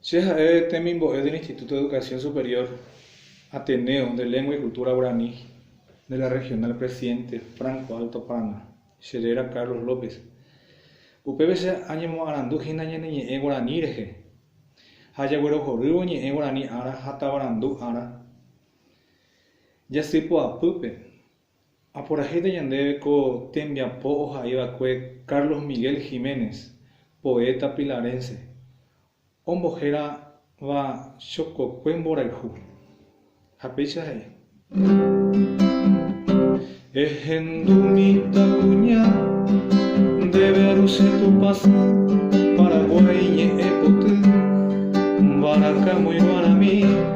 Che ha'e temimbo'e del Instituto de Educación Superior Ateneo de Lengua y Cultura Guaraní de la Regional Presidente Franco Alto Paraná, che réra Carlos López. Upépe che añemoarandu hína ñane ñe'ẽ guaraní rehe, ha ajaguerohorývo ñe'ẽ guaraní ára ha tavarandu ára jasy poapýpe. Aporahíta ñandéve ko tembiapo ohai va'ekue Carlos Miguel Jiménez, poeta pilarense, ombohéra va Chokokue mborayhu. Ha péicha he'i. Ehendu mitã kuña, ndéve ru che tupãsy, Paraguái ñe'ẽ poty, mbaraka moirũarami.